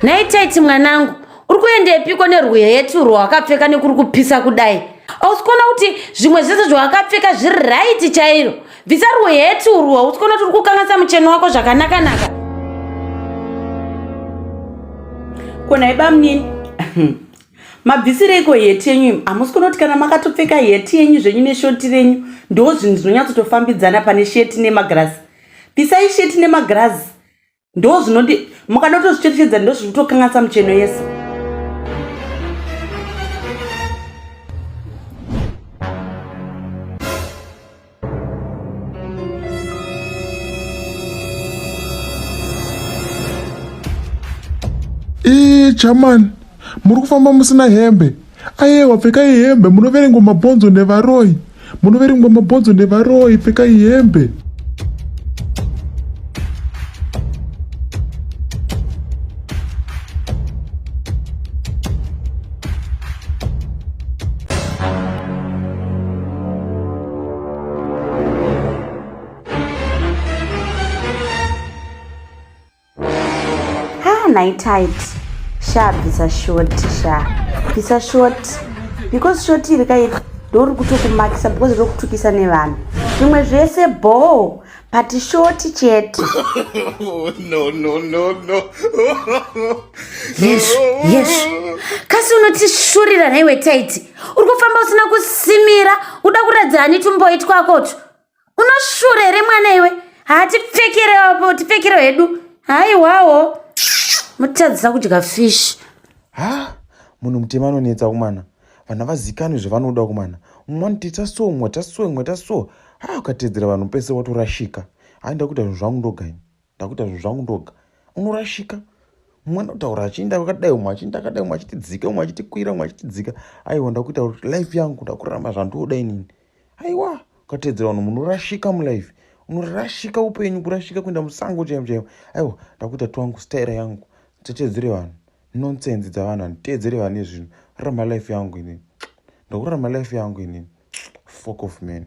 nhai taiti mwanangu uri kuendepiko nerwuhetu rwawakapfeka nekuri kupisa kudai ausi kuona kuti zvimwe zvese zvawakapfeka zviri raiti chairo bvisa rwuhetu urwu hausi kuona kuti uri kukanganisa mucheno wako zvakanakanaka kona ibamunini mabvisireiko heti yenyu imi hamusi kunoti kana makatopfeka heti yenyu zvenyu neshoti renyu ndo zvinhu zvinonyatsotofambidzana pane sheti nemagirazi pisai sheti nemagirazi ndo zvinoti mukadotozvicherechedza ndo zviri kutokanganisa mucheno yese ii chamani muri kufamba musina hembe ayewa pfekai hembe munoverengwa mabhonzo nevaroyi munoverengwa mabhonzo nevaroyi pfekai hembe naitit sha bvisa short sha bvisa short because short iri kai ndorikutokumakisa because riri kutukisa nevanhu zvimwe zvese bhoo but shoti chete no no no no yes yes kasi unotishurira nhaiwe taiti uri kufamba usina kusimira uda kuratidza hani tumboi twakotu unoshura here mwana iwe hatipfekerewapo tipfekero hedu haiwawo mutadzisa kudya fish ha munhu mutema anonetsa kumana vana vazikanwe zvavanoda kumana mumwe anotoita so mumwe ta so mumwe ta so haa ukateedzera vanhu pese watorashika hai ndakuita zvinhu zvangu ndoga ini ndakuita zvinhu zvangu ndoga unorashika mumwe anotaura achiinda akadai umwe achiinda akadai umwe achitidzika umwe achitikwira umwe achitidzika aiwa ndakuita kuti life yangu ndakuramba zvandoda inini aiwa ukateedzera vanhu munorashika mulife unorashika upenyu kurashika kuenda musango chaivo chaivo aiwa ndakuita twangu staira yangu titeedzere vanhu nonsense dzavanhu handiteedzere vane zvinhu rarama life yangu inini ndakurarama life yangu inini fok of man